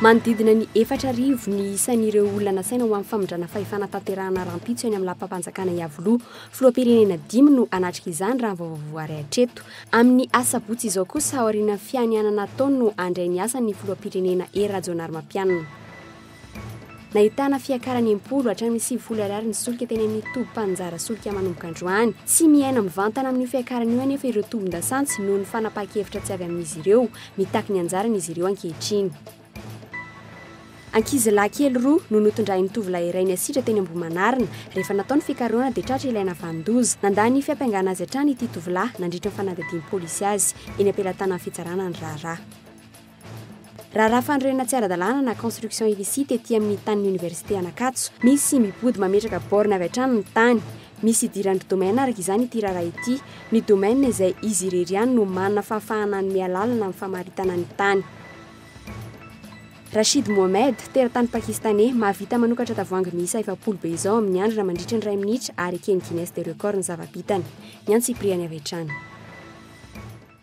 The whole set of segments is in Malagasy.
Manodidina ny efatra arivo ny isan'ireo olona nasaina ho amin'ny famindrana fahefana tanterahana rahampitso eny amin'ny lapam-panjakana Iavoloha. Filoham-pirenena dimy no hanatrika izany raha ny vaovao voary hatreto. Amin'ny asabotsy izao kosa aorian'ny fianianana ataony no handray ny asany ny filoham-pirenena Hery Rajaonarimampianina. Nahitana fiakarany impolo hatramin'ny sivifolo ariary ny solika teny amin'ny toby mpaninjara solika manomboka androany. Tsy miaina mivantana amin'io fiakarana io anefa ireo tobin-dasantsy noho ny fanapahan-kevitra tsy avy amin'izy ireo. Mitaky ny anjarany izy ireo ankehitriny. Ankizilahy kely roa no notondrahin'ny tovolahy iray niasidra teny Ambohimanarina. Rehefa natao ny fikarohana dia tratra ilay navanon-doza. Nandà ny fiampangana azy hatrany ity tovolahy nandritra ny fanadihadian'ny polisy azy. Eny am-pelatanan'ny fitsarana ny raharaha. Raharaha fanorenana tsy ara-dalàna na construction illicite ety amin'ny tanin'ny Oniversite Anakatso. Misy mipody mametraka borne avy hatrany ny tany. Misy idiran-dry domaine araka izany ity raharaha ity. Ny domaine izay izy irery ihany no manana fahafahana hanome alalana amin'ny famaritana ny tany. Rashid Mohamed, teratany Pakistaney, mahavita manokatra tavoahangy miisa efapolo be izao amin'ny andrina mandritra ny iray minitra ary eken'ny Guinness des records ny zava-bitany. Ny antsipiriany avy hatrany.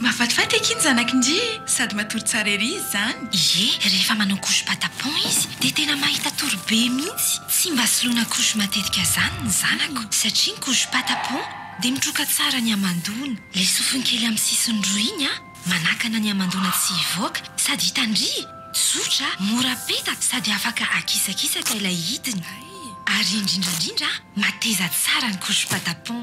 Mahafatifaty akia ny zanaky ndry e! Sady matory tsara ery izy zany. Ie, rehefa manao couche patapon izy dia tena mahita tory be mihitsy, tsy mba soloina couche matetika zany ny zanako satria ny couche patapon dia mitroka tsara ny hamandoana, le sofiny kely amin'ny sisiny roa iny an, manakana ny hamandoana tsy hivoaka, sady hitandria, zotra, mora peta sady afaka akisakisaka ilay hidiny. Ary indrindrandrindra an, mateza tsara ny couche patapon.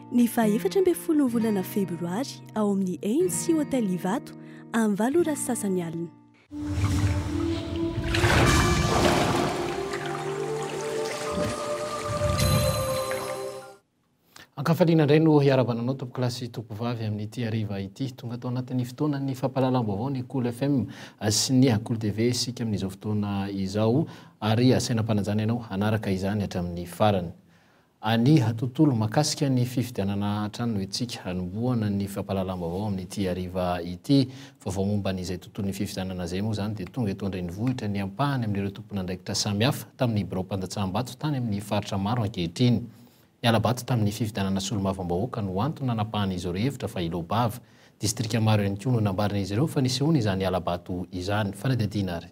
Ny faha efatra ambin'ny folon'ny volana febroary ao amin'ny ANC Hotel Ivato amin'ny valo ora sy sasany alina. Ankafaliana indray no hiarabana anao tompoko lahy sy tompoko vavy amin'ity hariva ity. Tonga tao anatin'ny fotoanan'ny fampahalalam-baovao ny Cool FM sy ny Cool TV isika amin'izao fotoana izao ary asaina am-panajana ianao hanaraka izany hatramin'ny farany. Aniha tontolo makasika ny fifidianana hatrany Etsika hanombohana ny fampahalalam-baovao amin'ity hariva ity. Vaovao momba an'izay tontolon'ny fifidianana izay moa izany dia tonga eto an-drenivohitra ny ampahany amin'ireo tompon'andraikitra samihafa tamin'ny biraom-pandatsahambato tany amin'ny faritra maro ankehitriny. Ny hala-bato tamin'ny fifidianana solombavambahoaka no antony nanapahan'izy ireo hevitra fa Ilobava. Distrika maro ihany koa no nambaran'izy ireo fa nisehoana izany hala-bato izany. Fanadihadiana ary.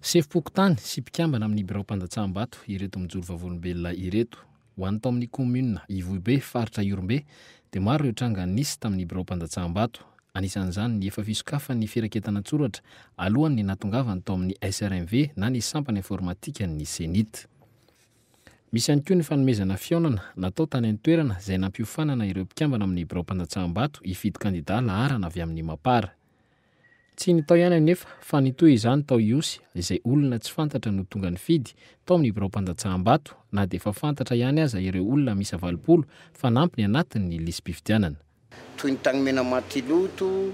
Sefom-pokontany sy mpikambana amin'ny biraom-pandatsaham-bato ireto mijoro vavolombelona ireto. Ho an'ny tao amin'ny kaominina Ivohibe, faritra Ihorombe, dia maro ireo tranga nisy tamin'ny biraom-pandatsaham-bato. Anisan'izany ny efa fisokafany ny firaketana an-tsoratra alohan' ny nahatongavany tao amin'ny SRMV na ny sampana informatikan' ny CENIT. Misy ihany koa ny fanomezana fihaonana natao tany an-toerana izay nampiofanana ireo mpikambana amin'ny biraom-pandatsaham-bato hifidy kandidà laharana avy amin'ny Mapar. Tsy ny tao ihany anefa fa nitohy izany tao Ihosy izay olona tsy fantatra no tonga nifidy tao ny biraom-pandatsahambato na dia efa fantatra ihany aza ireo olona miisa valopolo fanampy ny anatiny ny lisi-pifidianana. Toy ny tany Menamatiloto,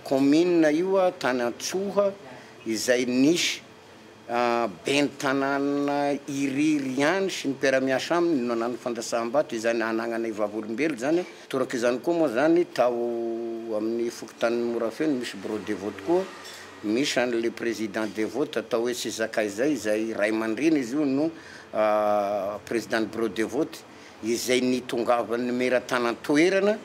kaominina io, tany Antsoha izay nisy Ben'ny tanàna irery ihany sy ny mpiara-miasa aminy no nanana fandrasaham-bato izany hanananay vavolombelona izany. Toraka izany koa moa izany tao amin'ny fokontanin'i Morafeo no misy Birao Devote koa, misy an'ilay Président Devote atao hoe Tsy Zakay izay, izay ray aman-dreny izy io no Président-n'ny Birao Devote. izay nitongavan'ny mera tany an-toerana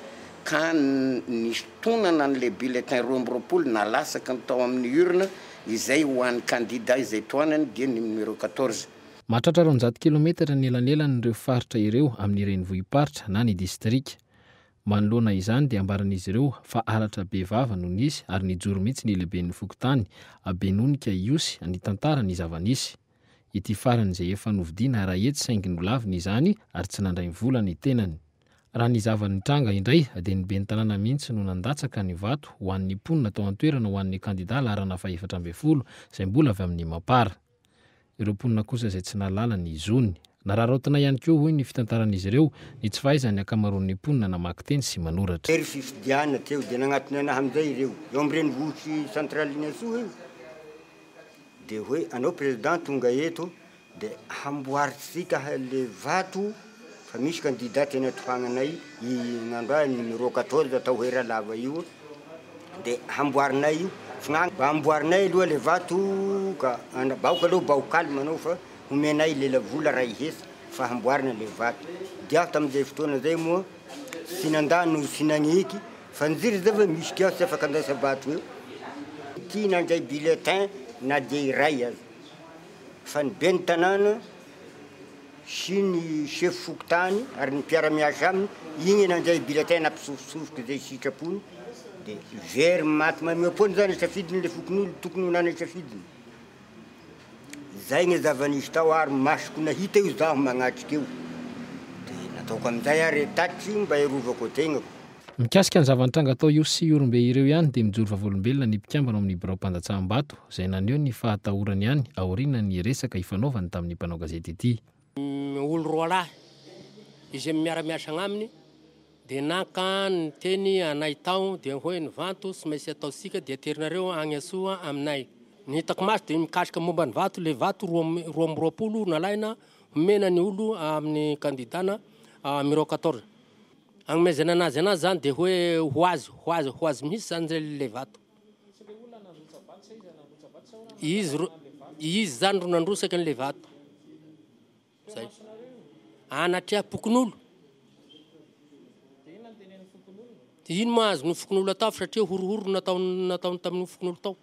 ka nisintonana an'ilay bulletin roa amby roapolo na lasaky ny tao amin'ny urne izay ho an'ny kandida izay tohanany dia ny numéro quatorze. Mahatratra roanjato kilometatra ny elanelan'ireo faritra ireo amin'ny renivohi-paritra na ny distrika. Manoloana izany dia ambaran'izy ireo fa halatra be vava no nisy ary nijoro mihitsy ny lehiben'ny fokontany, Benonika Ihosy nitantara ny zava-nisy. Ity farany izay efa novidiana ara-hetsy saingy nolaviny izany ary tsy nandray ny vola ny tenany. Raha ny zava-nitranga indray dia ny ben'ny tanàna mihitsy no nandatsaka ny vato ho an'ny mponina tao an-toerana ho an'ny kandida laharana fahefatra ambin'ny folo izay mbola avy amin'ny mampara. Ireo mponina kosa izay tsy nahalala ny zony. Nararaotina ihany koa, hoy ny fitantaran'izy ireo, ny tsy fahaizan'ny ankamaroan'ny mponina namaky teny sy manoratra. Tery fifidianana teo dia nagnatona anaha amin'izay ireo eo amin'ny renivohitry Central'Inatsoa io dia hoe anao président tonga eto dia hamboarintsika le vato fa misy candidat tena tohagna anay i nandroany numéro quatorze atao hoe Ralava io dia hamboarinay io, mba amboarinay aloha le vato ka, bahoka aloha baho calme anao fa. Homenay lela vola ray hesa fa hamboarina le vato diaho tamin'izay fotoana zay moa tsy nandà no tsy nagniky fa nziry zay ve misy kiosque afaka andaisa vato eo ty nandray bulletin na dia iray aza fa ny ben'ny tanàna sy ny sefo fokontany ary ny mpiara-miasa aminy igny nandray bulletin nampisofosofoky zay sitrapony de very maty mameapoana zany safidiny le fokonolona tokony ho nanay safidiny Izay anie zava-nisy tao ary masoko nahita io zaho magnatrika io dia nataoko amin'izay ary e tatsy mba hiarovako tegnako. Mikasika ny zava-nitranga tao Ihosy sy Ihorombe ireo ihany dia mijoro vavolombelona ny mpikambana ao amin'ny biraom-pandatsaham-bato izay naneho ny fahatahorany ihany aorianan'ny resaka ifanaovany tamin'ny mpanao gazety ity. Olo roalahy izay miara-miasa agnaminy dia naka ny teny anay tao dia hoe ny vato tsy maintsy ataontsika dia aterinareo agny Antsoa aminay. Ny hitako maso dia mikasika momba ny vato ilay vato roa roa amby roapolo nalaina homena ny olo amin'ny kandidana numéro quatorze. Agnomezana anazy anazy zany dia hoe ho azy ho azy ho azy mihitsy zany ilay vato. Izy ro, izy zany ro nandrosaka an'le vato. Zay. Anatreha pokonolo. Dia ino ma azon'io fokonolona atao fa satria horohoro no nataony, nataony tamin'io fokonolona tao.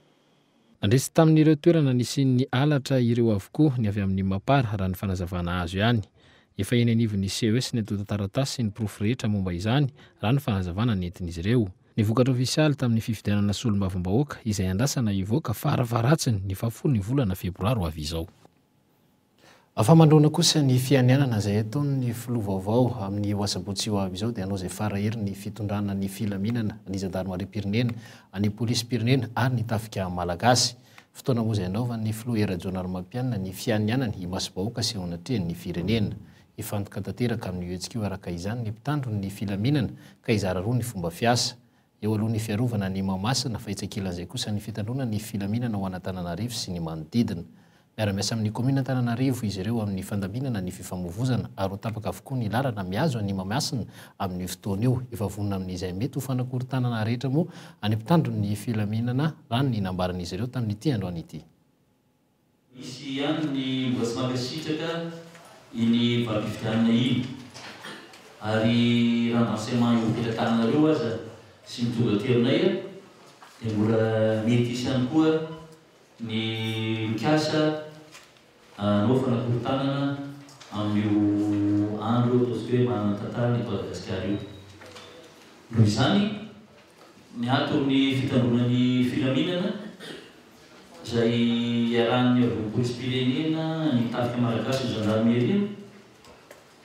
Nandresy tamin'ireo toerana nisian'ny halatra ireo avokoa ny avy amin'ny Mapar, raha ny fanazavana azo ihany. Efa eny anivon'ny CES ny antontan-taratasy sy ny porofo rehetra momba izany, raha ny fanazavana nentin'izy ireo. Ny vokatra ofisialy tamin'ny fifidianana solombavambahoaka izay andrasana hivoaka farafaharatsin ny fahafolon'ny volana febroary ho avy izao. Afa-mandroana kosa ny fianianana izay ataon'ny filoha vaovao amin'io asabotsy ho avy izao dia hanao izay fara hery ny fitondrana ny filaminana, ny zandarimarim-pirenena, ny polisim-pirenena ary ny tafika malagasy. Fotoana moa izay anaovan'ny filoha Hery Rajaonarimampianina ny fianianany imasom-bahoaka sy eo anatrehan'ny firenena. Hifantoka tanteraka amin'io hetsika io araka izany ny mpitandro ny filaminana ka hizara roa ny fomba fiasa. Eo aloha ny fiarovana an'i Mahamasina fa etsy ankilan'izay kosa ny fitandroana ny filaminana ao an'Antananarivo sy ny manodidina. Miara-miasa amin'ny kaominina Antananarivo izy ireo amin'ny fandaminana ny fifamoivozana ary ho tapaka avokoa ny lalana mihazo an'i Mahamasina amin'io fotoana io. Efa vonona amin'izay mety ho fanakorontanana rehetra moa ny mpitandro ny filaminana raha ny nambaran'izy ireo tamin'ity androany ity. Misy ihany ny mbola tsy mankasitraka iny valifidianina iny ary raha mba tsy mahay mipetrak tananareo aza sy mitondra aterineil dia mbola mety hisy ihany koa ny mikasa hanao fanakorontanana amin'io andro ataontsika hoe manana ny tantarany eto Madagasikara io. Noho izany. Miato amin'ny fitandroana ny filaminana izay iarahan'ny havoam-poizim-pirenena, ny Tafika Malagasy, ny Zandarimeria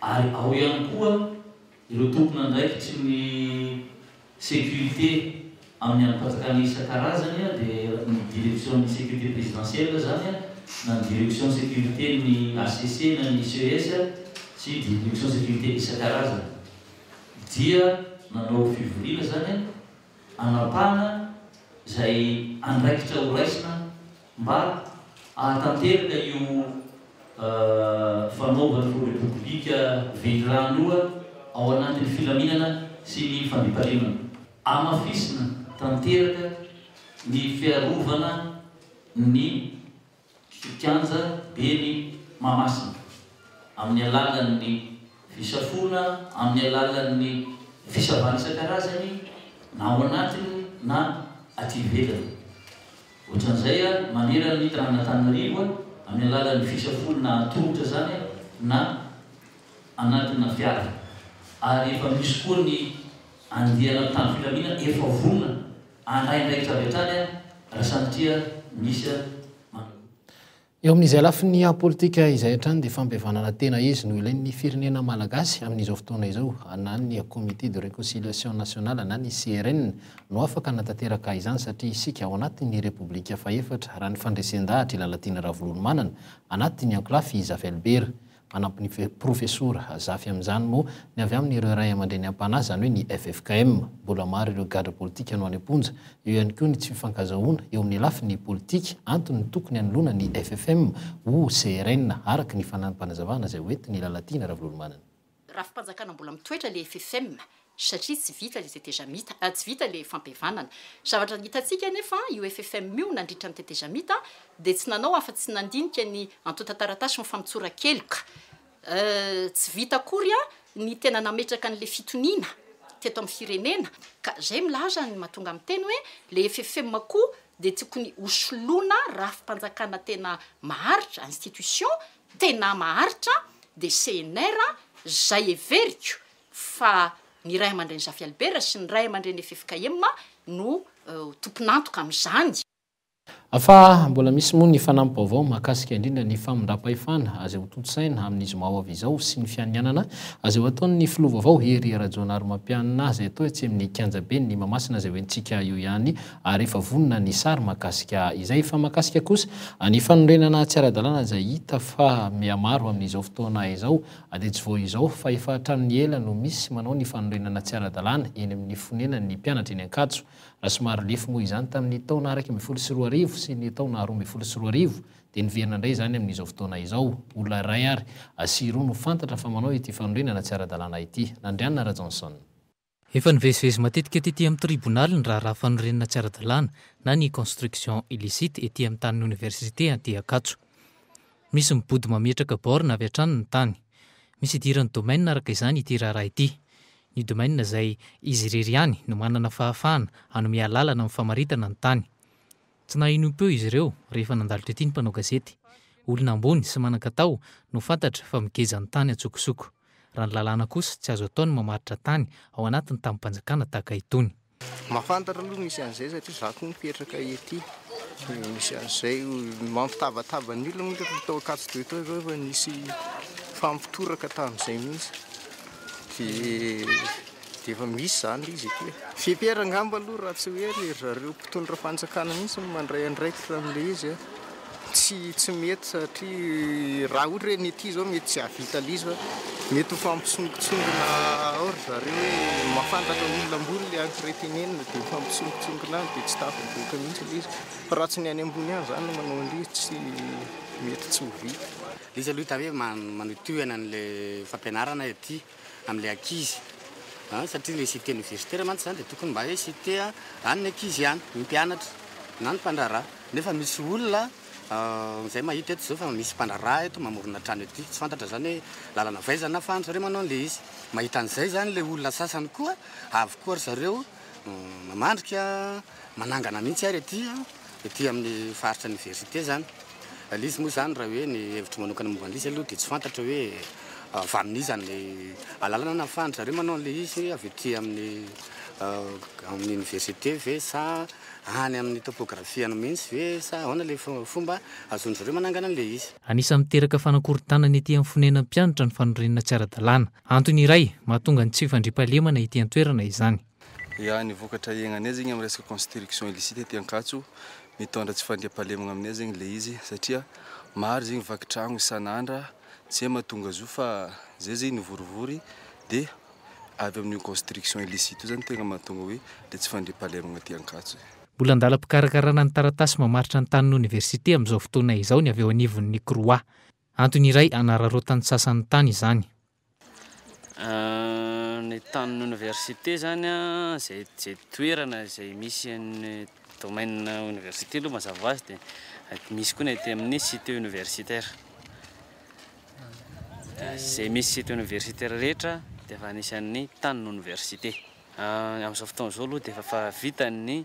ary ao ihany koa ireo tompon'andraikitry ny sécurité amin'ny andrim-panjakana isan-karazany dia ny Direction-n'ny sécurité présidentielle izany na ny Direction sécurité-n'ny HCC na ny ICES sy Direction sécurité isan-karazany. dia nanao fivoriana izany hanapahana izay andraikitra ho raisina mba hahatanteraka io fanaovana ho Repoblika velirano io ao anatin'ny filaminana sy ny fandriampahalemana. Hamafisina tanteraka ny fiarovana ny. sy kianja be ny Mahamasina amin'ny alalan'ny fisafoana amin'ny alalan'ny fisavana isan-karazany na ao anatiny na aty ivelany. Ohatran'izay manerana ny tanàn'Antananarivo amin'ny alalan'ny fisafoana an-tongotra izany na anatina fiara ary efa misy koa ny andiana mpitandro filaminana efa vonona Handray andraikitra avy hatrany aho raha sanatria misy mandrahona. Eo amin'izay lafiny politika izay hatrany dia fampihavanana tena izy no ilain'ny firenena malagasy amin'izao fotoana izao na ny comité de reconciliation nationale na ny CRN no afaka hanatanteraka izany satria isika ao anatin'ny Repoblika fahefatra raha ny fandresen-dahatr'i Lalatiana Ravololomanana anatin'ny ankolafy i Zavelbera Manampy ny Profesora Zafy amin'izany moa ny avy amin'ireo Ray aman-dreny am-panahy, izany hoe ny ffkm. Mbola maro ireo gadra politika no any am-ponja. Eo ihany koa ny tsy fifankazahoana eo amin'ny lafiny politika, antony tokony hanoloana ny FFM ho CRN, araka ny fanampanazavana izay hoentin'i Lalatiana Ravololomanana. Rafi-panjakana mbola mitoetra ilay ffkm, satria tsy vita le tetezamita, tsy vita le fampihavanana. Zavatra hitantsika anefa io FFM io nandritra ny tetezamita dia tsy nanao afa tsy nandinika ny antontan-taratasy ny famotsoran-keloka. Tsy vita akory ny tena nametraka an'le fitoniana teto amin'ny firenena ka zay milaza ny mahatonga miteny hoe le FFM koa dia tokony ho soloina rafi-panjakana tena maharitra, institution tena maharitra dia CNR zay heveriko fa ny ray aman-dreny Zafy Albert sy ny ray aman-dreny FFKM no tompon'antoka amin'izany. Fa mbola misy moa ny fanampi-baovao mahakasika indrindra ny famindram-pahefana azeo tontosaina amin'ny zoma ho avy izao sy ny fianianana azeo ataon'ny filoha vaovao Hery Rajaonarimampianina izay atao etsy amin'ny kianjaben'ny Mahamasina izay hoentintsika eo ihany ary efa vonona ny sary mahakasika izay. Fa mahakasika kosa ny fanorenana tsy ara-dalàna izay hita fa mihamaro amin'izao fotoana izao A Dia tsy vao izao fa efa hatramin'ny ela no misy manao ny fanorenana tsy ara-dalàna eny amin'ny fonenan'ny mpianatra eny Ankatso, raha somary lefy moa izany tamin'ny taona araika ambin'ny folo sy roa arivo sy ny taona roa ambin'ny folo sy roa arivo dia niverina indray izany amin'izao fotoana izao. Olona iray ary sy roa no fantatra fa manao ity fanorenana tsy ara-dalàna ity. Nandrianina Rajohnson. Efa nivezivezy matetika tety amin'ny tribonaly ny raharaha fanorenana tsy ara-dalàna na ny construction illicite ety amin'ny tanin'ny oniversite Antiankatso. Misy mibody mametraka borne avy hatrany ny tany. Misy idiran'ny domaine araka izany ity raharaha ity. Ny domaine izay izy irery ihany no manana fahafahana hanome alalana amin'ny famaritana ny tany. Tsy naheno im-peo izy ireo rehefa nandalo tety ny mpanao gazety. Olona ambony sy manan-katao no fantatra fa migeja ny tany an-tsokosoko. Raha ny lalàna kosa, tsy azo atao ny mamaritra tany ao anaty ny tamim-panjakana tahaka itony. Mahafantatra aloha misy an'izay satria za koa mipetraka ety dia misy an'izay mampitabataba ny olona moa rehefa tao Ankatso-be tao izao efa nisy nifampitoraka tamin'izay mihitsy dia dia efa misy izany ilay izy ety e. Feper angamba aloha raha tsy hoe ry zareo mpitondra fanjakana mihitsy no mandray andraikitra amin'ilay izy a. Tsy tsy mety satria raha ohatra hoe ny ety izao mety tsy hahavita an'ilay izy fa mety ho fampisongotsongona ao ry zareo hoe mahafantatra olona ambony ilay en-traitement-na dia mifampisongotsongona any dia tsy tafavoaka mihitsy ilay izy fa raha tsy ny any ambony any izany no manao an'ilay izy tsy mety tsy ho vita. Ilay izy aloha hita hoe manohitohy an'ilay fampianarana ety. amin'ilay ankizy an, satria ilay cité universitaire mantsy izany dia tokony mba hoe cité an'ny ankizy ihany, ny mpianatra na ny mpandraharaha, nefa misy olona izay mahita eto izao fa misy mpandraharaha eto mamorona trano ety, tsy fantatra izany hoe lalana avy aiza na fa an-dry zareo manao an'ilay izy, mahita an'izay izany ilay olona sasany koa, avy koa ry zareo. Mamandrika, manangana mihitsy ary aty, aty amin'ny faritra oniversite izany. Ilay izy moa izany raha hoe ny hevitro manokana momba an'ilay izy aloha dia tsy fantatro hoe avy amin'iza ny alalana nahafahan-dry zareo manao an'ilay izy, avy aty amin'ny amin'ny oniversite ve sa any amin'ny topôgrafiany mihitsy ve sa ahoana ilay fomba ahazoan-dry zareo manangana an'ilay izy. Anisan'ny miteraka fanakorontanana ety amin'ny fonenan'ny mpianatra ny fanorenana tsy ara-dalàna. Antony iray mahatonga ny tsy fandriampahalemana ety an-toerana izany. Ya, ny vokatra iainganay zegny amin'ny resaka construction illicite ety Ankatso, mitondra tsy fandriampahalemagna aminay zegny le izy satria maro zegny vaky tragno isan'andra, tsy hay mahatonga zo fa zay zegny nivorivory de avy amin'io construction illicite io zany tegna mahatonga hoe le tsy fandriampahalemagna aty Ankatso e. Mbola an-dalam-pikarakarana ny taratasy mamaritra ny tanin'ny oniversite amin'izao fotoana izao ny avy eo anivon'ny CROUA. Antony iray hanararaotan'ny sasany ny tany izany. Ny tanin'ny oniversite izany izay izay toerana izay misy an'ny domaine oniversite aloha mazava ho azy dia misy koa ny aty amin'ny site universitaire. Izay misy site universitaire rehetra dia efa anisan'ny tanin'ny oniversite. Amin'izao fotoana izao aloha dia efa efa vita ny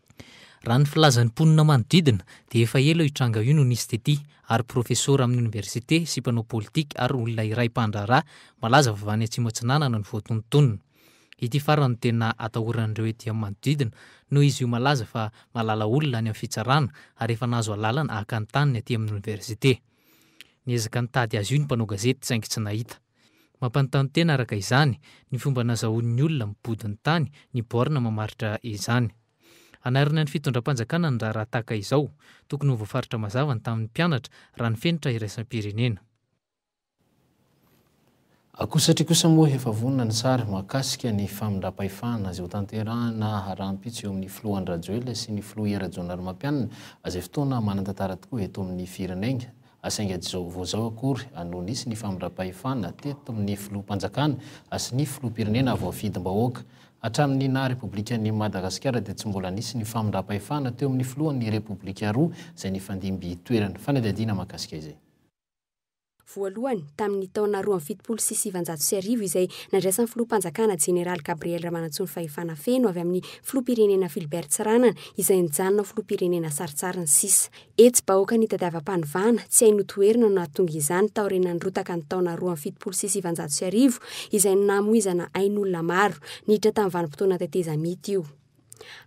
Raha ny filazan'ny mponina manodidina dia efa ela io tranga io no nisy tety ary profesora amin'ny oniversite sy mpanao politika ary olona iray mpandraharaha malaza avy any Atsimo Atsinanana no voatonontonona. Ity farany no tena atahoran'ireo ety amin'ny manodidina noho izy io malaza fa mahalala olona any amin'ny fitsarana ary efa nahazo alalana haka ny taniny aty amin'ny oniversite. Niezaka nitady azy io ny mpanao gazety saingy tsy nahita. Mampanontany tena araka izany ny fomba nazahoan'ny olona mipody ny tany ny borne mamaritra izany. Hanarina ny fitondram-panjakana ny raharaha tahaka izao, tokony ho voafaritra mazava ny tamin'ny mpianatra raha ny fenitra iraisam-pirenena. Akoho satria kosa moa efa vonona ny sary mahakasika ny famindram-pahefana izay hotanterahina rahampitso eo amin'ny filoha Andry Rajoelina sy ny filoha Hery Rajaonarimampianina izay fotoana manan-tantara tokoa eto amin'ny firenegna. a Saingy tsy vao izao akory no nisy ny famindram-pahefana teto amin'ny Filoham-panjakana sy ny Filoham-pirenena voafidim-bahoaka. Hatramin'ny naha Repoblika an'i Madagasikara dia tsy mbola nisy ny famindram-pahefana teo amin'ny Filohan'ny Repoblika roa izay nifandimby toerana. Fanadihadiana mahakasika izay. Voalohany, tamin'ny taona roa amby fitopolo sy sivanjato sy arivo izay nandraisan'ny Filoham-panjakana Jeneraly Gabriel Ramanantsoa ny fahefana feno avy amin'ny Filoham-pirenena Philbert Tsiranana izay nijanona ho Filoham-pirenena sarintsariny sisa. Hetsi-bahoaka nitadiavam-panovana tsy haino toherina no nahatonga izany taorianan'ny rotaka ny taona roa amby fitopolo sy sivanjato sy arivo izay no namoizana ain'olona maro niditra tamin'ny vanim-potoana tetezamita io.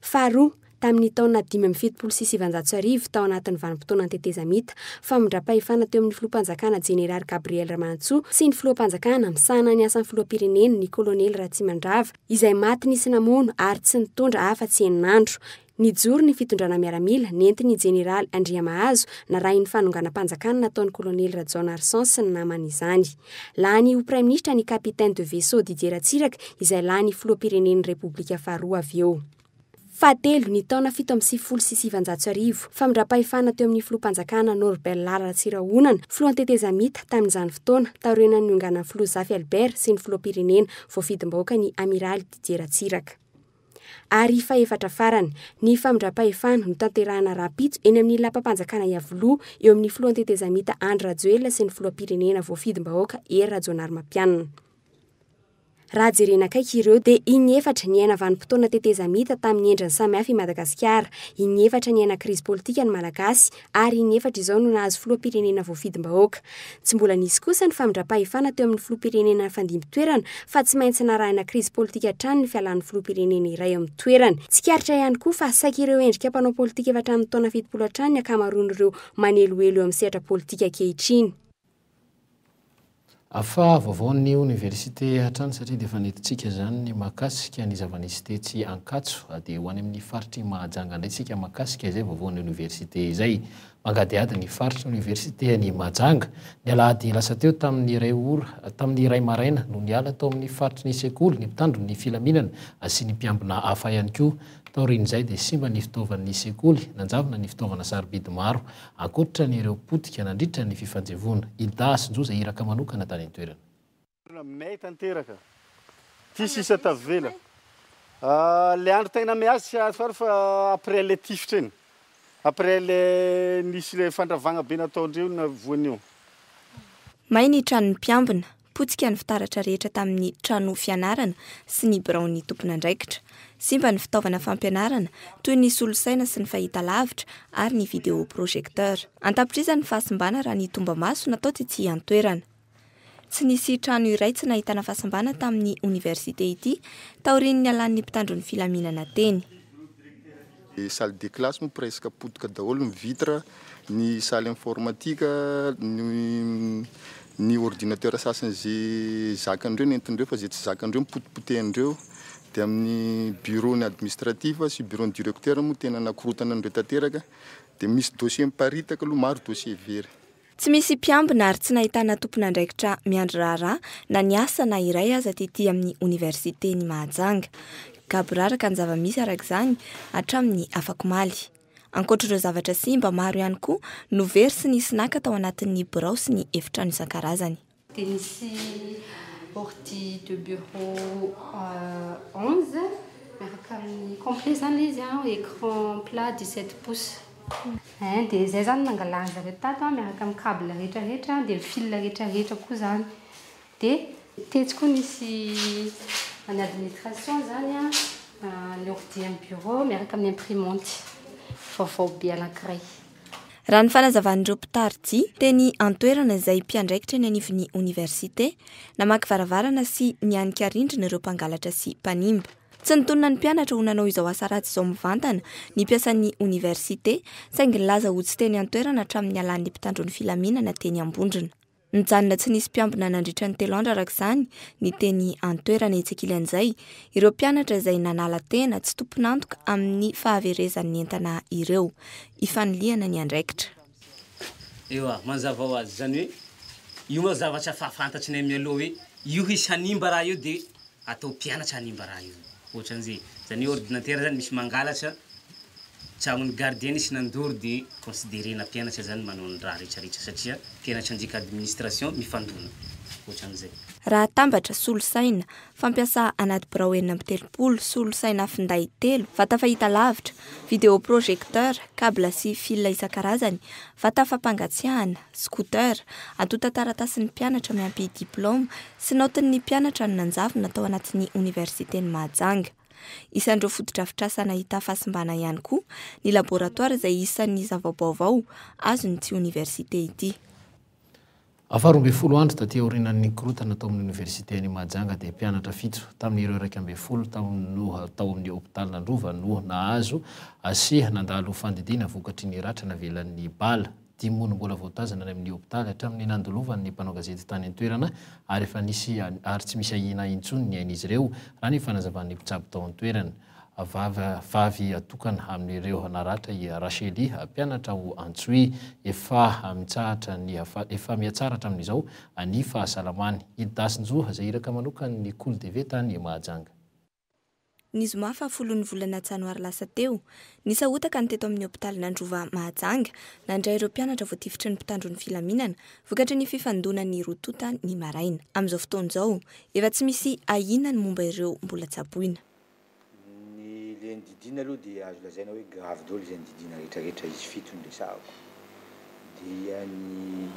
Faharoa, tamin'ny taona dimy amby fitopolo sy sivanjato sy arivo tao anatin'ny vanim-potoanan'ny tetezamita, famindram-pahefana teo amin'ny filoham-panjakana Jeneraly Gabriel Ramanantsoa sy ny filoham-panjakana misahana ny asan'ny filoham-pirenena ny Kolonely Ratsimandrava izay maty nisy namono ary tsy nitondra afa-tsy enina andro Nijoro ny fitondrana miaramila nentin'ny Jeneraly Andriamahazo narahin'ny fanonganam-panjakana nataon'ny Kolonely Rajaonarison sy ny namany izany. Lany ho Praiminisitra ny Capitaine de Vaisseau Didier Ratsiraka izay lany Filoham-pirenen'ny Repoblika faharoa avy eo. Fahatelo, ny taona fito amby sivifolo sy sivanjato sy arivo, famindram-pahefana teo amin'ny Filoham-panjakana Norbert Lala Ratsirahonana, Filohan'ny Tetezamita, tamin'izany fotoana, taorianan'ny nionganan'ny Filoha Zafy Albert sy ny Filoham-pirenena voafidim-bahoaka ny Amiraly Didier Ratsiraka. Ary fahefatra farany, ny famindram-pahefana notanterahina rahampitso eny amin'ny lapam-panjakana Iavoloha eo amin'ny filohan'ny tetezamita Andry Rajoelina sy ny filoham-pirenena voafidim-bahoaka Hery Rajaonarimampianina. Raha jerena akaiky ireo dia inefatra niaina vanim-potoana tetezamita tamin'ny endriny samihafa i Madagasikara, inefatra niaina krizy politika ny Malagasy, ary inefatra izao no nahazo filoham-pirenena voafidim-bahoaka. Tsy mbola nisy kosa ny famindram-pahefana teo amin'ny filoham-pirenena nifandimby toerana fa tsy maintsy narahina krizy politika hatrany ny fialan'ny filoham-pirenena iray eo amin'ny toerany. Tsikaritra ihany koa fa saiky ireo endrika mpanao politika efa hatramin'ny taona fitopolo hatrany ny ankamaroan'ireo manelohelo eo amin'ny sehatra politika ankehitriny. Afa vaovaon'ny oniversite hatrany satria dia efa nentintsika izany ny mahakasika ny zava-nisy tetsy Ankatso. Dia ho any amin'ny faritr'i Mahajanga indray isika mahakasika izay vaovaon'ny oniversite izay. Mangadihady ny faritry ny oniversite any Mahajanga. Ny alahady lasa teo tamin'ny iray ora, tamin'ny iray maraina no niala tao amin'ny faritry ny sekoly ny mpitandro ny filaminana sy ny mpiambina hafa ihany koa. Taorian'izay dia simba ny fitaovan'ny sekoly, nanjavona ny fitaovana sarobidy maro Ankoatra ny ireo potika nandritra ny fifanjevoana, i Dah sy Njoza iraka manokana tany an-toerana. Mey tanteraka ty sisa tavela le andro tegna miady tsy azo fary fa après le tifitra igny après le nisy le fandravagna be nataondreo navoanio. May ny tranon'ny mpiambina. Potika ny fitaratra rehetra tamin'ny trano fianarana sy ny biraon'ny tompon'andraikitra. Simba ny fitaovana fampianarana, toy ny solosaina sy ny fahitalavitra ary ny vidéo projecteur. An-tapitrisany ny fahasimbana raha ny tombamaso natao tetsy an-toerana. Tsy nisy trano iray tsy nahitana fahasimbana tamin'ny oniversite ity, taorian'ny nialan'ny mpitandro ny filaminana teny. Ny salle de classe moa presque potika daholo ny vitre, ny salle informatique, ny ordinateur sasany ze zakandreo nentindreo fa ze tsy zakandreo nipotipotehindreo, de amin'ny bureau ny administratif sy bureau ny directeur moa tena nakorotana an'ireo tanteraka, de misy dossier miparitaka aloha maro dossier very. Tsy misy mpiambina ary tsy nahitana tompon'andraikitra miandry raharaha na ny asa na iray aza tetỳ amin'ny Oniversiten'i Mahajanga. Gaboraraka ny zava-misy araka izany hatramin'ny afakomaly. Ankoatr'ireo zavatra simba, maro ihany koa no very sy nisy naka tao anatin'ny birao sy ny efitrano isan-karazany. Dia nisy ordi de bureau onze miaraka amin'ny complet izany ilay izy an, écran plat dix sept pouces. Ein, dia izay izany no nangalariny zareo tato an, miaraka amin'ny cable rehetra rehetra, dia ny fil rehetra rehetra koa izany. Dia tetsy koa nisy any administration izany an, ny ordi amin'ny bureau miaraka amin'ny imprimante vaovao be anankiray. Raha ny fanazavan'ireo mpitari-jia teny an-toerana izay mpiandraikitra eny anivon'ny oniversite, namaky varavarana sy nianika rindrina ireo mpangalatra sy mpanimba. Tsy nitonona ny mpianatra ho nanao izao asa ratsy izao mivantana ny mpiasan'ny oniversite, saingy nilaza ho tsy teny an-toerana hatramin'ny nialan'ny mpitandro ny filaminana teny Ambondrona. Nijanona tsy nisy mpiambina nandritra ny telo andro araka izany ny teny an-toerana etsy ankilan'izay ireo mpianatra izay nanala tena tsy tompon'antoka amin'ny fahaverezan'ny entana ireo. Ifanilihana ny andraikitra. Ewa, manazava ho azy. Izany hoe, io manko zavatra efa fantatrinay mialoha hoe io hisy hanimba raha io dia atao mpianatra hanimba raha io. Ohatran'zay zany ordinatera zany misy mangalatra tragnon'ny gardien sy nandoro de considerena mpianatra zany manao ny raha rehetra rehetra satria mpianatra andika administration mifandona. Ohatran'zay. Raha atambatra, solosaina, fampiasa anaty birao enina amby telopolo, solosaina finday telo, vata fahita lavitra, vidéo projecteur, cable sy fil isan-karazany, vata fampangatsiahana, scooter, antontan-taratasin'ny mpianatra miampy diplaoma, Tsy naotin'ny mpianatra ny nanjavona tao anatin'ny Oniversiten'i Mahajanga. Isan'ireo fotodrafitrasa nahita fahasimbana ihany koa ny laboratoara izay isan'ny zava-baovao azon'ity oniversite ity. Faharoa ambin'ny folo andro taty aorianan'ny nikorontana tao amin'ny Oniversiten'i Mahajanga dia mpianatra fito tamin'ireo iraika ambin'ny folo taona tao amin'ny hopitalin'Androva no nahazo sy nandalo fandidiana vokatry ny ratra navelan'ny bala Dimy ora mbola voatazana any amin'ny hopitaly hatramin'ny nandolovany ny mpanao gazety tany an-toerana ary efa nisy ary tsy misy ahiana intsony ny ain'izy ireo, raha ny fanazavan'ny mpitsabo tao an-toerana. Vavy vavy tokana amin'ireo naratra i Rachely, mpianatra ao Antsohihy. Efa mitsahatra ny efa mihatsara hatramin'izao ny fahasalamany. I Dasinjo, izay iraka manokana ny Kolo Deve tany Mahajanga. ny zoma fahafolon'ny volana janoary lasa teo. Nisahotaka ny teto amin'ny hopitalin'Androva Mahajanga, nandray ireo mpianatra voatifitry ny mpitandro ny filaminana, vokatry ny fifandonan'ny roa tonta ny maraina. Amin'izao fotoana izao, efa tsy misy ahiana ny momba ireo mbola tsaboina. Ny le ny didiana aloha dia azo lazaina hoe gravy daholo izay ny didiana rehetrarehetra izy fito no resahako. dia ny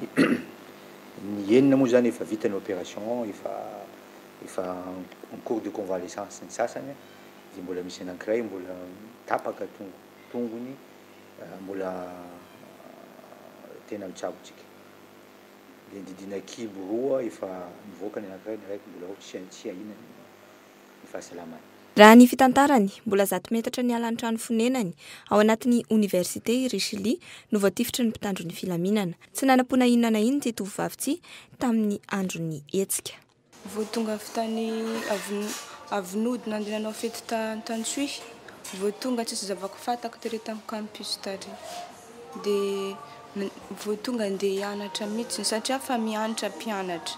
ny enina moa zany efa vita ny opération efa efa en cours de convalescence ny sasany a, dia mbola misy anankiray mbola tapaka tongo tongony mbola tena mitsabo tsika, dia ny didina kibo roa efa nivoaka ny anankiray ny araiky mbola ao tsy tsy ahiana ny. ny fahasalamany. Raha ny fitantarany, mbola zato metatra niala ny trano fonenany, ao anatin'ny Oniversite i Richely, no voatifitry ny mpitandro ny filaminana. Tsy nanam-poana inona na inona ity tovovavy ity, tamin'ny andron'ny hetsika. Vao tonga avy tany avy nody nandeha nanao fety tany Antanisoy, vao tonga tsisy zava-ko fantako tery tamin'ny campus tary. dia vao tonga handeha hianatra mihitsy satria efa mianatra mpianatra.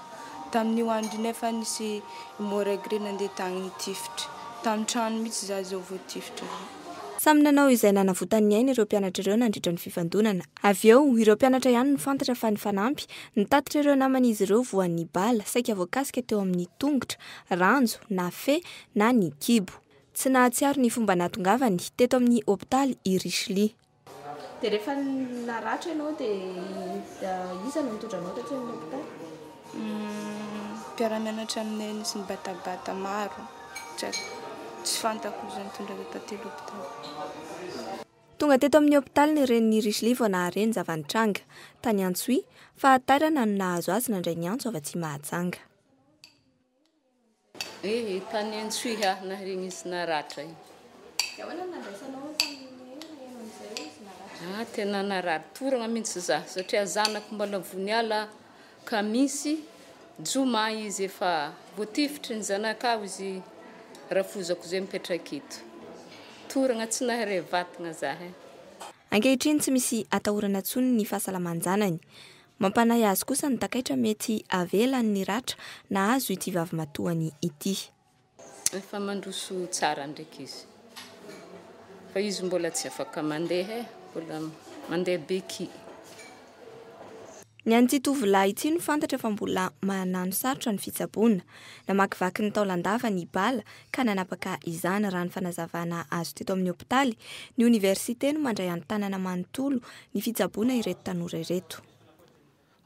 Tamin'io andro iny efa nisy moragre nandeha tany nitifitra. Tamin'ny trano mihitsy izaho izao vao tifitra. Samy nanao izay nanavotany ny ainy ireo mpianatra ireo nandritra ny fifandonana. Avy eo, ireo mpianatra ihany no fantatra fa nifanampy, nitatitra ireo naman'izy ireo voan'ny bala saika voakasika teo amin'ny tongotra, ranjo, na fe, na ny kibo. Tsy nahatsiaro ny fomba nahatongavany teto amin'ny hopitaly i Richly. Dia rehefa naratra ianao dia iza no nitondra anao taty amin'ny hopitaly? Mpiara-mianatra aminay nisy nibatabata maro, tsy fantako izay nitondra anay taty hopitaly. Tonga teto amin'ny hopitaly ny renin'i Richly vao nahare ny zava-nitranga. Tany Antsohihy, fahatairana no nahazo azy nandray ny antso avy aty Mahajanga. Eh, mpanentsoy ha, naharegny izy naratra io. Dia ahoana no nandraisanao tamin'ny hoe naheno an'izay hoe izy naratra? Ah, tena narary toragna mihitsy za satria zanako mbola voniala kamisy joma izy efa voatifitry ny zanakao izy rafozako izay mipetraka eto. Toragna tsy naharay vatagna za eh. Ankehitriny tsy misy atahorana intsony ny fahasalaman-janany. Mampanahy azy kosa ny takaitra mety havelany ny ratra nahazo ity vavimatoany ity. Efa mandroso tsara ndraiky izy fa izy mbola tsy afaka mandeha e, mbola mandeha beky. Ny an'ity tovolahy ity no fantatra fa mbola manano sarotra ny fitsaboana. Namakivaky ny taolan-davany i Bala ka nanapaka izany raha ny fanazavana azo teto amin'ny hopitaly, ny oniversite no mandray an-tanana manontolo ny fitsaboana ireto tanora ireto.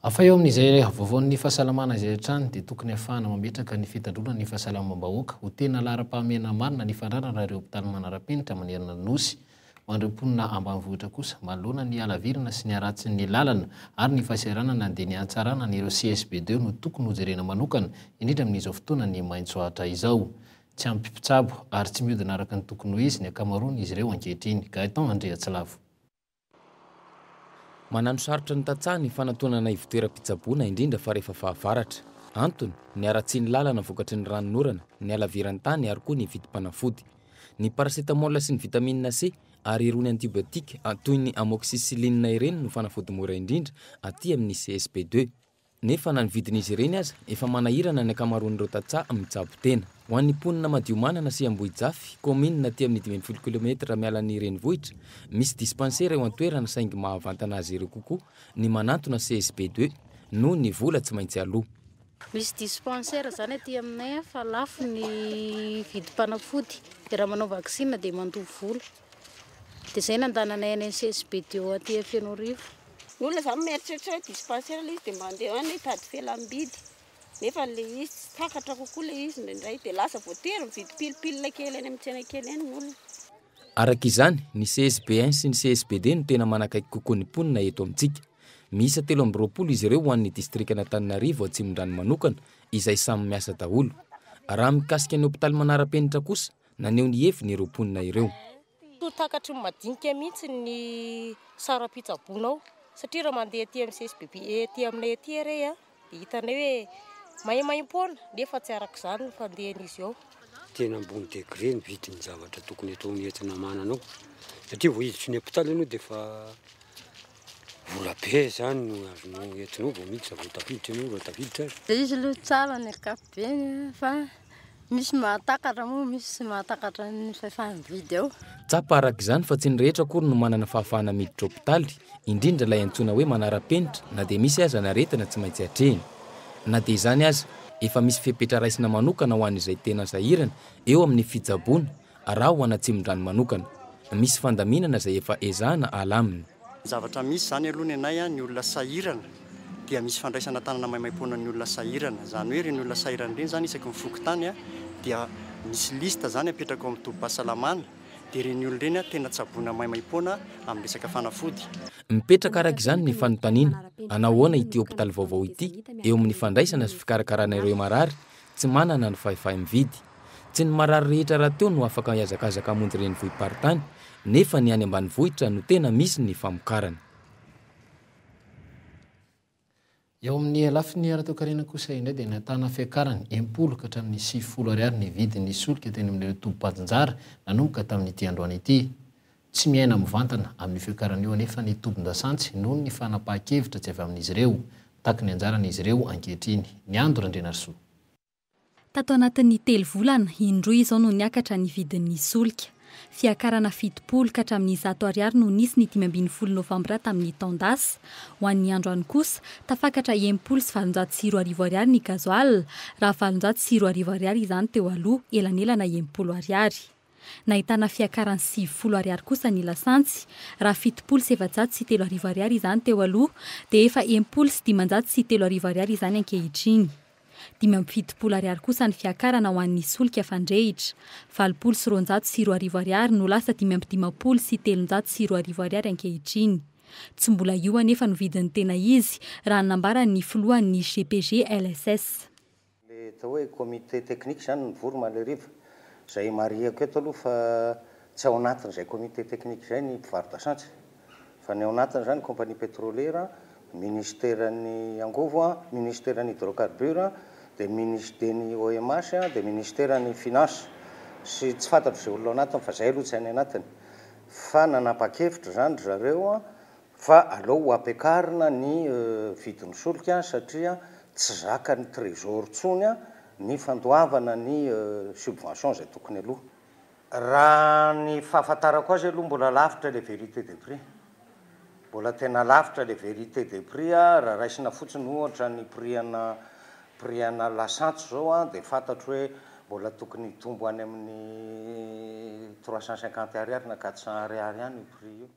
Hafa eo amin'izay havoavoan'ny fahasalamana izay hatrany dia tokony hahafahana mametraka ny fitandroana ny fahasalamam-bahoaka ho tena laharam-pahamehana marina ny fandrarana ireo hopitaly manara-penitra manerana ny Nosy Ho an'ireo mponina ambanivohitra kosa, manoloana ny halavirana sy ny haratsin'ny lalana ary ny fahasahiranana dia ny hahatsarana an'ireo CSB deux no tokony hojerena manokana, indrindra amin'izao fotoanan'ny maitso atra izao. Tsy ampy mpitsabo ary tsy miodina araka ny tokony ho izy ny ankamaroan'izy ireo ankehitriny. Gaëtan Andriatsilavo. Mananosarotra ny tantsaha ny fanantonana ivontoeram-pitsaboana, indrindra fa rehefa fahavaratra. Antony, ny haratsian'ny lalana vokatry ny ranon'orana, ny halaviran-tany ary koa ny vidim-panafody. Ny paracetamol sy ny vitamine C ary irony antibiotiques toy ny amoxicilline ireny no fanafody mora indrindra aty amin'ny CSP deux. Nefa na ny vidin'izy ireny aza efa manahirana ny ankamaroan'ireo tantsaha mitsabo tena. Ho an'ny mponina Madiomanana sy Ambohijafy, kaominina aty amin'ny dimy ambin'ny folo kilometatra miala ny renivohitra, misy dispansera eo an-toerana saingy mahavantana azy ireo kokoa ny manantona CSP deux noho ny vola tsy maintsy aloa. Misy dispensaire zany aty aminay a fa lafo ny vidim-panafody de raha manao vaksina de mandoa vola de zay nandananay any CSBDO aty a Fenoarivo. Ny olona zany mieritreritra hoe dispensaire le izy de mandeha any hitady fialam-bidy nefa le izy tsy takatra kokoa le izy indraindray de lasa voatery mividy pilipilina kely any amin'ny tsena kely any ny olona. Araka izany, ny CSB I sy ny CSB ii no tena manakaiky kokoa ny mponina eto amintsika. Miisa telo amby roapolo izy ireo ho an'ny distrikan'Antananarivo Atsimondrano manokana, izay samy miasa daholo. Raha mikasika ny hopitaly manara-penitra kosa, naneho ny heviny ireo mponina ireo. Toa takatry ny madinika mihitsy ny saram-pitsaboana ao, satria raha mandeha aty amin'ny CSBB ety aminay ety re a, Dia hitanay hoe maimaim-poana nefa tsy araka izany ny fandehan'izy eo. Tena ambony degré ny vidin'ny zavatra tokony atao ny entina manana ao. Satria vao hiditra ny hôpitaly ianao dia efa vola be izany no azonao entinao vao miditra vao tafiditra ianao raha tafiditra aza. Dia izy aloha tsara ny ankapobeny fa Misy mahatakatra moa misy tsy mahatakatra ny fahefa-mividy ao. Tsapa araka izany fa tsy ny rehetra akory no manana fahafahana miditra hopitaly, indrindra ilay antsoina hoe manara-penitra na dia misy aza ny aretina tsy maintsy atrehina. Na dia izany aza, efa misy fepetra raisina manokana ho an'izay tena sahirana eo amin'ny fitsaboana Raha ho an'Atsimondrano manokana, misy fandaminana izay efa ezahana alamina. Ny zavatra misy izany aloha ny anay, ny olona sahirana dia misy fandraisana tanana maimaimpoana ny olona sahirana. Izany hoe ireny olona sahirana ireny izany isaky ny fokontany dia misy liste izany apetraka ao amin'ny tobim-pahasalamana dia ireny olona ireny tena tsaboina maimaimpoana amin'ny resaka fanafody. Mipetraka araka izany ny fanontaniana, hanao ahoana ity hopitaly vaovao ity eo amin'ny fandraisana sy fikarakarana ireo marary Tsy manana ny fahefay mividy. Tsy ny marary rehetra rahateo no afaka hihazakazaka hamonjy renivohi-paritany, nefa ny any ambanivohitra no tena misy ny famokarana. Eo amin'ny lafiny ara-toekarena kosa indray dia nahitana fiakarany impolo ka hatramin'ny sivifolo ariary ny vidin'ny solika teny amin'ireo tobim-pajinjara nanomboka tamin'ity androany ity. Tsy miaina mivantana amin'io fiakarana io anefa ny tobin-dasantsy noho ny fanapahan-kevitra tsy avy amin'izy ireo. Mitaky ny anjarany izy ireo ankehitriny. Miando Randrianarisoa. Tato anatin'ny telo volana, indroa izao no niakatra ny vidin'ny solika. Fiakarana fitopolo ka hatramin'ny zato ariary no nisy ny dimy ambin'ny folo novambra tamin'ny taon-dasa. Ho an'ny androany kosa, tafakatra enimpolo sy valonjato sy roa arivo ariary ny gazoala, raha valonjato sy roa arivo ariary izany teo aloha, elanelana enimpolo ariary. Nahitana fiakarany sivifolo ariary kosa ny lasantsy. Raha fitopolo sy efajato sy telo arivo ariary izany teo aloha dia efa enimpolo sy dimanjato sy telo arivo ariary izany ankehitriny. Dimy amby fitopolo ariary kosa ny fiakarana ho an'ny solika fandrehitra. Valopolo sy roanjato sy roa arivo ariary no lasa dimy amby dimampolo sy telonjato sy roa arivo ariary ankehitriny. Tsy mbola io anefa no vidin'ny tena izy raha ny nambaran'ny filohan'ny GPGLSS. Ilay atao hoe comité technique izany no nivory Maleriva. Izay marihiko eto aloha fa tsy ao anatin'izay comité technique izay ny mpivaro-dasantsy. Fa ny ao anatiny izany compagnie pétrolière, ministeran'ny angovo, ministeran'ny hydrocarbure, dia minister ny OMH, dia ministeran'ny finance. Sy tsy fantatro izay olona ao anatiny fa izay aloha tsy any anatiny. Fa nanapa-kevitra izany ry zareo Fa aleo ho ampiakarina ny vidin'ny solika satria tsy zakan'ny trésor intsony ny fandoavana ny subvention izay tokony aloha. Raha ny fahafantarako azy aloha mbola lavitra ilay vérité des prix. Mbola tena lavitra ilay vérité des prix raha raisina fotsiny ohatra ny prix ana prix ana lasantsy izao dia fantatro hoe mbola tokony hitombo any amin'ny trois cent cinquante ariary na quatre cent ariary any io prix io.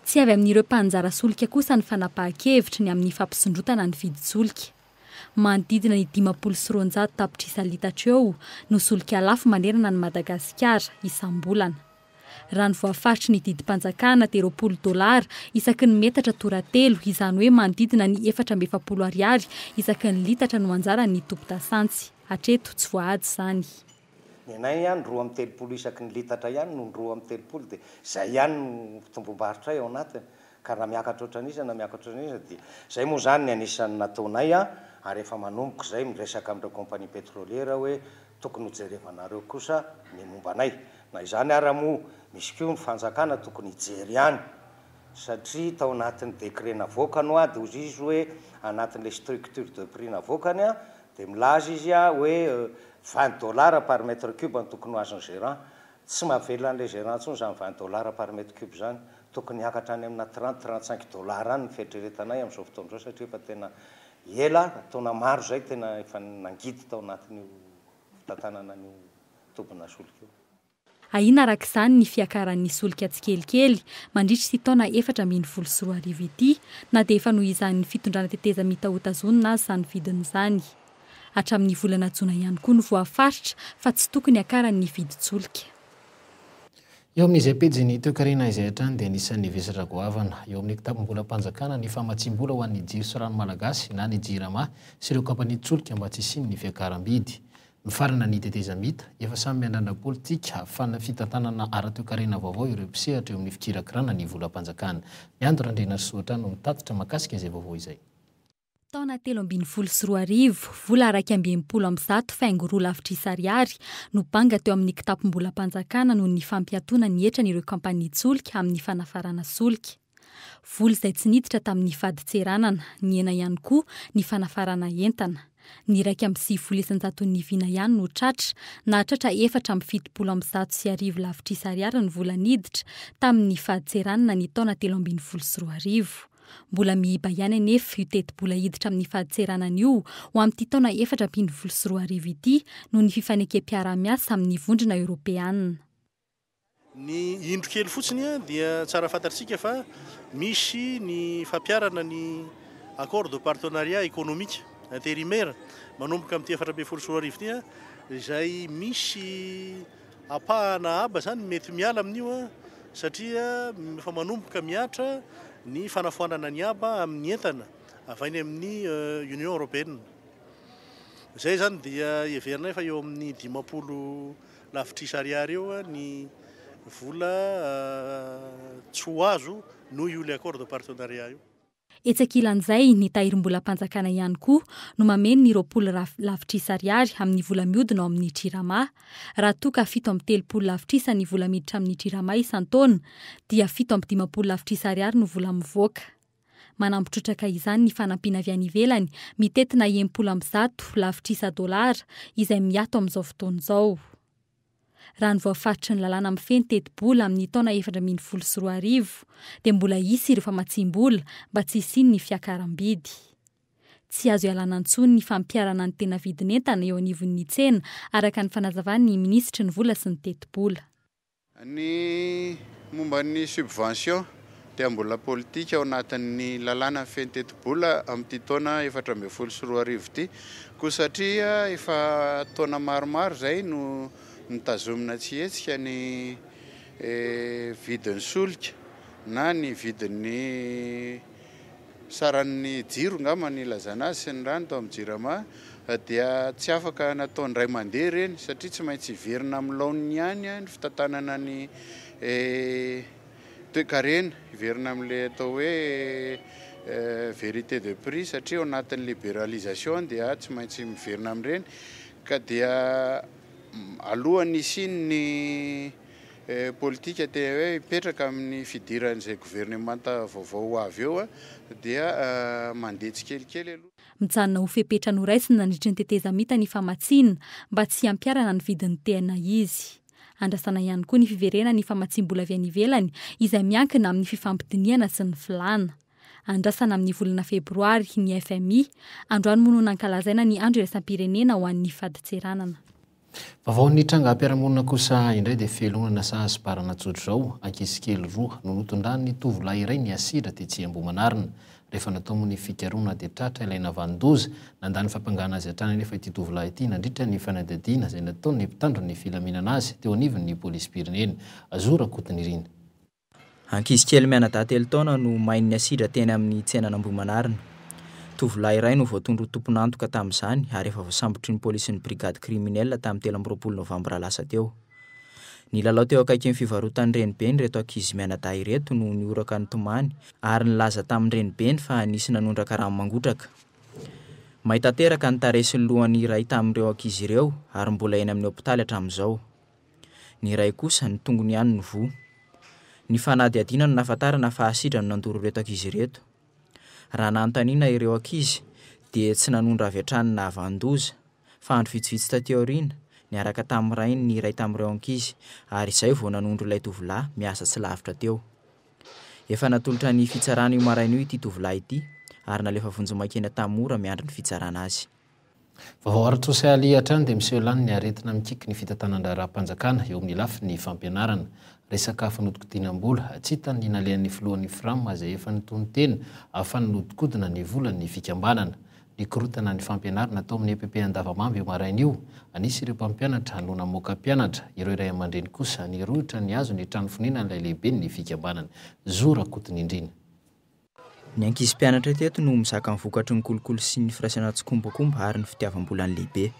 Tsy avy amin'ireo mpaninjara solika kosa ny fanapahan-kevitry ny amin'ny fampisondrotana ny vidin-tsolika. Manodidina ny dimampolo sy roanjato tapitrisa litatra eo no solika lafo manerana an'i Madagasikara isam-bolana. Raha ny voafaritry ny didim-panjakana dia roapolo dolara isaky ny metatra toratelo, izany hoe manodidina ny efatra amby efapolo ariary isaky ny litatra no anjaran'ny tompo-dasantsy. Hatreto tsy voahaja izany. Ny anay ihany roa amby telopolo isaky ny litatra ihany no roa amby telopolo dia izay ihany no fitomboam-barotrray ao anatiny ka na miakatra ohatran'iza na miakatra ohatran'iza dia izay moa izany ny anisan'ny nataonay an ary efa manomboka izay miresaka amin'ireo compagnie pétrolière hoe tokony ho jerevanareo kosa ny momba anay na izany ara moa misy koa ny fanjakana tokony hijery ihany satria tao anatin'ny décret navoakany hoady hozy izy hoe anatin'ilay structure de prix navoakany an Dia milaza izy a hoe vingt dollars par mètre cube no tokony ho azon'ny gérant. Tsy mahavelona an'ilay gérant intsony izany vingt dollars par mètre cube izany. Tokony hiakatra any amina trente, trente cinq dollars any ny fieritreretanay amin'izao fotoana izao satria efa tena ela, taona maro izay tena efa nangidy tao anatin'io fitantanana an'io tobinà solika io. Ahiana araka izany ny fiakaran'ny solika tsikelikely mandritra ity taona efatra ambin'ny folo sy roa arivo ity na dia efa nohizanin'ny fitondrana tetezamita hotazonina aza izany vidiny izany. Hatramin'ny volana jona ihany koa no voafaritra fa tsy tokony hakaran'ny vidin-tsolika. Eo amin'izay pejin'ny toekarena izay hatrany dia anisan'ny vesatra goavana eo amin'ny kitapom-bolam-panjakana ny famatsiam-bola ho an'ny jiro sy rano malagasy na ny Jirama sy ireo kaompanian-tsolika mba tsy hisian'ny fiakaram-bidy. Mifarana ny tetezamita, efa samy miandràndra politika hafana fitantanana ara-toekarena vaovao ireo mpisehatra eo amin'ny fikirakiràna ny volam-panjakana. Ny Ando Randrianarisoatra no mitatitra mahakasika izay vaovao izay. Taona telo ambin'ny folo sy roa arivo, vola iraika amby enimpolo amby zato faingo roa lavitrisa ariary no banga teo amin'ny kitapom-bolam-panjakana noho ny fampiatoana ny hetran'ireo kaompania tsolika amin'ny fanafarana solika. Vola izay tsy niditra tamin'ny fadintseranana, nihena ihany koa ny fanafarana entana. Ny iraika amby sivifolo isan-jaton'ny vina ihany no tratra. Nahatratra efatra amby fitopolo amby zato sy arivo lavitrisa ariary ny vola niditra tamin'ny fadintseranana ny taona telo ambin'ny folo sy roa arivo. Mbola miiba ihany anefa io tetibola hiditra amin'ny fadintseranana io ho amin'ity taona efatra ambin'ny folo sy roa arivo ity noho ny fifanekem-piaraha-miasa amin'ny Vondrona Eoropeana. Ny indro kely fotsiny dia tsara fantatrtsika fa misy ny fampiarana ny Accord de partenariat économique intérimaire manomboka amin'ity efatra ambin'ny folo sy roa arivo ity izay misy ampahana aba zany mety miala amin'io satria efa manomboka mihatra ny fanafoanana ny aba amin'ny entana avy any amin'ny euh, Union européenne. Izay zany dia heverinay fa eo amin'ny dimampolo Lavitrisa ariary eo ny vola tsy ho azo noho io le accord de partenariat io. Etsy ankilan'izay, ny Tahirimbolam-panjakana ihany koa no mameno ny roapolo Raf lavitrisa ariary amin'ny vola mihodina ao amin'ny Jirama. Raha toa ka fito amby telopolo lavitrisa ny vola miditra amin'ny Jirama isan-taona, dia fito amby dimampolo lavitrisa ariary no vola mivoaka. Manampy trotraka izany ny fanampiana avy any ivelany, mitentina enimpolo amby zato lavitrisa dolara, izay miato amin'izao fotoana izao. Raha ny voafaritry ny lalàna mifehy ny tetibola amin'ny taona efatra ambin'ny folo sy roa arivo, dia mbola hisy ireo famatsiam-bola mba tsy hisian'ny fiakaram-bidy. Tsy azo ialana intsony ny fampiharana ny tena vidin'entana eo anivon'ny tsena, araka ny fanazavan'ny minisitry ny Vola sy ny Tetibola. Ny momba ny subvention dia mbola politika ao anatin'ny lalànan'ny feno tetibola amin'ity taona efatra ambin'ny folo sy roa arivo ity koa satria efa taona maromaro izay no nitazomina tsy hetsika ny vidin'ny solika na ny vidin'ny saran'ny jiro angamba ny ilazana azy, sy ny rano tao amin'ny Jirama, dia tsy afaka natao indray mandeha ireny satria tsy maintsy hiverina amin'ny laoniny ihany ny fitantanana ny toekarena, hiverina amin'ilay atao hoe vérité de prix satria ao anatin'ny libéralisation dia tsy maintsy miverina amin'ireny ka dia alohan'ny hisian'ny politika te hoe hipetraka amin'ny fidiran'izay governemanta vaovao ho avy eo dia mandeha tsikelikely aloha. Mijanona ho fepetra noraisiny nandritry ny tetezamita ny famatsiana mba tsy hampiharana ny vidin'ny TN izy. Andrasana ihany koa ny fiverenan'ny famatsiam-bola avy any ivelany izay miankina amin'ny fifampidinihana sy ny filàna. Andrasana amin'ny volana febroary ny fmi. Androany moa no nankalazaina ny andro iraisam-pirenena ho an'ny fadintseranana. Vaovao ny trangam-piarahamonina kosa indray dia fialonana saha sy bara najojo izao, ankizy kely roa no notondran'ny tovolahy iray niasidra tetsy Ambohimanarina. Rehefa natao moa ny fikarohana dia tratra ilay navanon-doza. Nandà ny fampangana azy hatrany anefa ity tovolahy ity nandritra ny fanadihadiana izay nataon'ny mpitandro ny filaminana azy teo anivon'ny polisim-pirenena. Zo Rakotonirina. Ankizy kely mianadahy telo taona no main'ny asidra teny amin'ny tsenan'Ambohimanarina. Tovolahy iray no voatondro ho tompon'antoka tamin'izany ary efa voasambotry ny polisin'ny brigade criminelle tamin'ny telo amby roapolo novambra lasa teo. Nilalao teo akaikin'ny fivarotan'ny renibeny ireto ankizy mianadahy ireto no nihoraka nitomany ary nilaza tamin'ny renibeny fa nisy nanondraka rano mangotraka. May tanteraka ny tarehy sy ny lohan'ny iray tamin'ireo ankizy ireo ary mbola eny amin'ny hopitaly hatramin'izao. Ny iray kosa, ny tongony ihany no voa. Ny fanadihadiana no nahafantarana fa asidra no nandoro ireto ankizy ireto. Raha nanontaniana ireo ankizy dia tsy nanondro avy hatrany ny nahavanon-doza, fa andro vitsivitsy taty aoriana, niaraka tamin'ny rainy ny iray tamin'ireo ankizy ary izay vao nanondro ilay tovolahy miasa tsy lavitra teo. Efa natolotra ny fitsarana io maraina io ity tovolahy ity ary nalefa vonjimaika eny Antahamoura miandry ny fitsarana azy. Vao arotoa sy alia hatrany dia miseho lany ny aretina mikiky ny fitantanan-draharaham-panjakana eo amin'ny lafiny fampianarana. Resaka fanodinkodinam-bola, tsy hitan' ny nalehan'ny filohan'ny Fram izay efa nitonon-tena fa hanodinkodina ny volan'ny fikambanana. Nikorotana ny fampianarana tao amin'ny epp Andavamamba io maraina io. Anisy ireo mpampianatra no namoaka mpianatra. Ireo ray aman-dreny kosa nirohotra nihazo ny trano fonenan'ilay lehiben'ny fikambanana. Zo Rakotonindrina. Ny ankizy mpianatra teto no mizaka ny vokatry ny kolikoly sy ny firaisana tsikombakomba ary ny fitiavam-bolan'ny lehibe.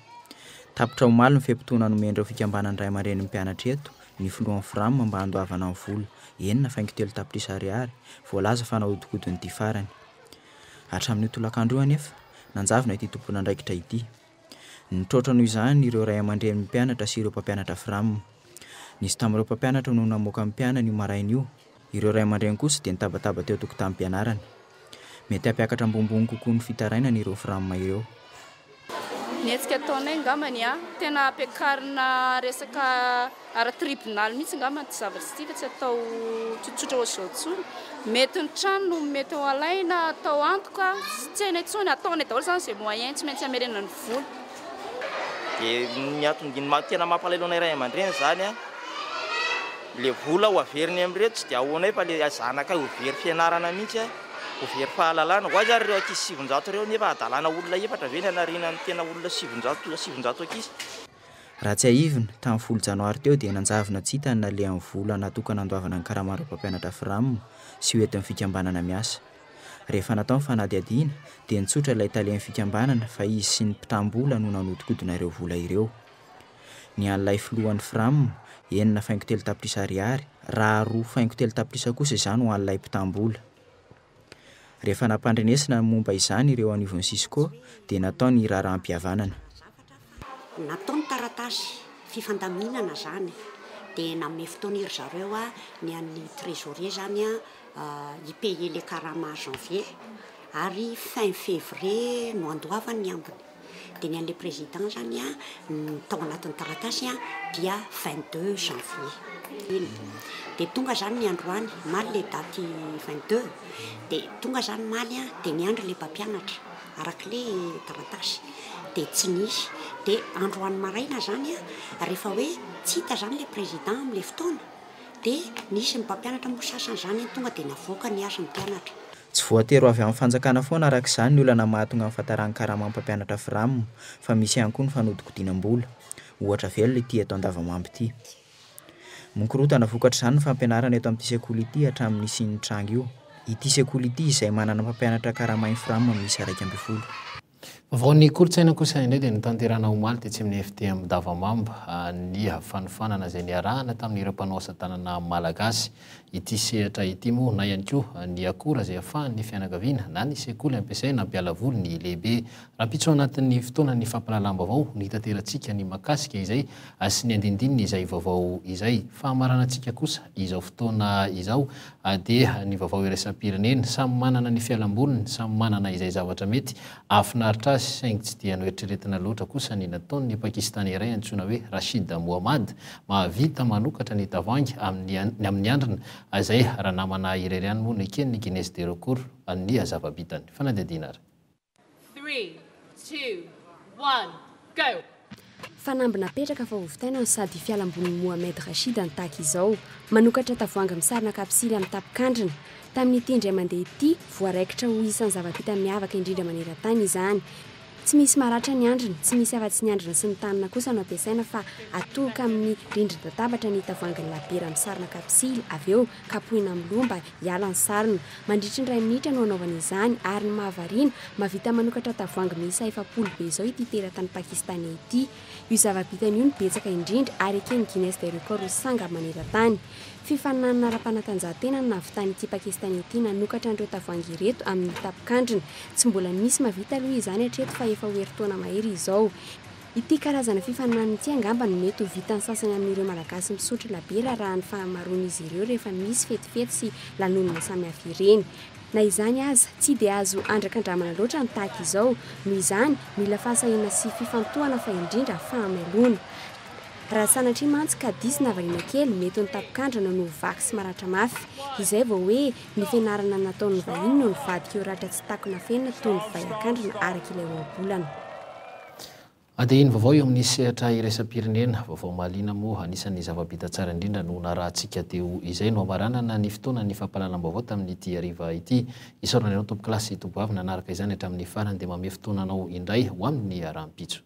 Tapitra omaly ny fe-potoana nomen'ireo fikambanan'ny ray aman-drenin'ny mpianatra eto ny filohan'ny Fram mba handoavana ny vola enina faingo telo tapitrisa ariary voalaza fa nahodikodin'ity farany. Hatramin'io tolakandro io anefa, nanjavona ity tomponandraikitra ity. Nitroatra noho izany ireo ray aman-drenin'ny mpianatra sy ireo mpampianatra Fram. Nisy tamin'ireo mpampianatra no namoaka ny mpianany io maraina io, ireo ray aman-dreny kosa dia nitabataba teo an-tokotanim-pianarana. Mety hampiakatra ambonimbony kokoa ny fitarainana ireo Fram ireo. Ny hetsika ataonay angambany, tena ampiakarina resaka Ara tribonaly mihitsy angamba ity zavatra ity fa tsy atao tsotsotra ohatr'izao intsony. Mety ny trano no mety ho alaina atao antoka, tsy tsena intsony, ataonay daholo izany izay moyen tsy maintsy hamerenana ny vola. Dia ny antony tena mampalahelo anay ray aman-dreny izany an, ilay vola ho averiny amin'ireto tsy dia ahoanay fa ilay zanakay ho very fianarana mihitsy an, ho very fahalalana, ho aiza ary ireo ankizy sivinjato ireo nefa hadalana olona efatra ve ny hanariana ny tena olona sivinjato, sivinjato ankizy. Raha tsiahivina, tamin'ny folo janoary teo dia nanjavona tsy hita ny nalehan'ny vola natokana handoavana ny karamarin'ireo mpampianatra Fram sy ho entin'ny fikambanana miasa. Rehefa natao ny fanadihadiana dia nitsotra ilay talen'ny fikambanana fa izy sy ny mpitam-bola no nanodinkodina ireo vola ireo. Ny an'ilay filohan'ny Fram, enina faingo telo tapitrisa ariary, raha roa faingo telo tapitrisa kosa izany ho an'ilay mpitam-bola. Rehefa nampandrenesina ny momba izany ireo anivon'ny Cisco dia natao ny raharaham-pihavanana. Natao ny taratasy fifandaminana izany dia nanome fotoana ry zareo ny an'ny trésorier izany hi payer le karama janvier ary fin février no handoavany ny ambiny. dia ny an'ilay président zany a ny tao anatin'ny taratasy a dia 22 janvier iny dia tonga zany ny androany maly le daty 22 dia tonga zany maly a dia niandry le mpampianatra araka le taratasy dia tsy nisy dia androany maraina zany a rehefa hoe tsy hita zany le président amle fotoana dia nisy ny mpampianatra moa sasany zany tonga dia navoaka ny azy ny mpianatra Tsy voatery ho avy amin'ny fanjakana foana araka izany ny olana mahatonga ny fahataran'ny karamam pampianatra Fram fa misy ihany koa ny fanodikodinam-bola. Ohatra velona ity eto Andavamamba ity. Mikorotana vokatr'izany ny fampianarana eto amin'ity sekoly ity hatramin'ny nisian'ny tranga io. Ity sekoly ity izay manana mpampianatra karama Infram miisa iraika ambin'ny folo. Vaovaon'ny kolontsaina kosa indray dia notanterahina omaly tetsy amin'ny FTM Davamamba ny fanofanana izay niarahana tamin'ireo mpanao asa tanana malagasy ity sehatra ity moa na ihany koa ny akora izay afahan'ny fianakaviana na ny sekoly ampiasaina hampiala voly ny lehibe rampitso anatin'ny fotoanan'ny fampalalam-bavao no hitaterantsika ny makasika izay sy ny andindininy izay vaovao izay fahamaranantsika kosa izao fotoana izao AD, Ny vaovao iraisam-pirenena. Samy manana ny fialam-boliny, samy manana izay zavatra mety hahafinaritra azy, saingy tsy dia noeritreretina loatra kosa ny nataon'ny Pakistane iray antsoina hoe Rashid Mohammad. Mahavita manokatra ny tavoahangy amin'ny amin'ny andrina, izay ranamana irery ihany moa no eken'ny Guinness des records ny zava-bitany. Fanadihadiana ary. Three, two, one, go! Fanamby napetraka fa hovitaina ny sady fialambolin'i Mohamed Rashid any tahaka izao. Manokatra tavoahangy misarona kapisily amin'ny tapin-kandrina. Tamin'ity indray mandeha ity, voaraikitra ho isan'ny zava-bita miavaka indrindra maneran-tany izany. Tsy misy maratra ny andriny, tsy misy afa-tsy ny andrina sy ny tanana kosa no ampiasaina fa atoloka amin'ny rindrin-databatra ny tavoahangin'ny labiera misarona kapisily avy eo kapohina amin'ny loha mba Hiala ny sarona. Mandritry ny iray minitra no hanaovana izany ary ny mahavariana, mahavita manokatra tavoahangy miisa efapolo be izao ity teratany Pakistaney ity. Io zava-bitany io no betsaka indrindra ary eken'ny Guinness des Records ho sangany maneran-tany. Fifaninanana ara-panatanjahantena no nahavitan'ity Pakistaney ity nanokatra an'ireo tavoahangy ireto amin'ny tapin-kandrina. Tsy mbola nisy mahavita aloha izany hatreto fa efa ho herintaona mahery izao. Ity karazana fifaninanana ity angamba no mety ho vitan'ny sasany amin'ireo Malagasy misotro labiera arahan'ny fahamaroan'izy ireo rehefa misy fetifety sy lanonana samihafa ireny. Na izany aza, tsy dia azo andrakandramana loatra ny tahaka izao. Noho izany, mila fahasahiana sy fifantohana fa indrindra fahamailoana. Raha sanatria mantsy ka diso na variana kely, mety ho ny tapon-kandrana no ho vaky sy maratra mafy. Izay vao hoe ny fianarana nataon'ny vahiny no nivadika ho ratra tsy takona fenina toy ny vay an-kandrana araka ilay ohabolana. Adihiny vaovao eo amin'ny sehatra iraisam-pirenena, vaovao mahaliana moa, anisan'ny zava-bita tsara indrindra no narahantsika teo izay no hamaranana ny fotoanan'ny fampahalalam-baovao tamin'ity hariva ity. Isaorana anao tompoklasy, tompoavy nanaraka izany hatramin'ny farany dia manome fotoana anao indray ho amin'ny rahampitso.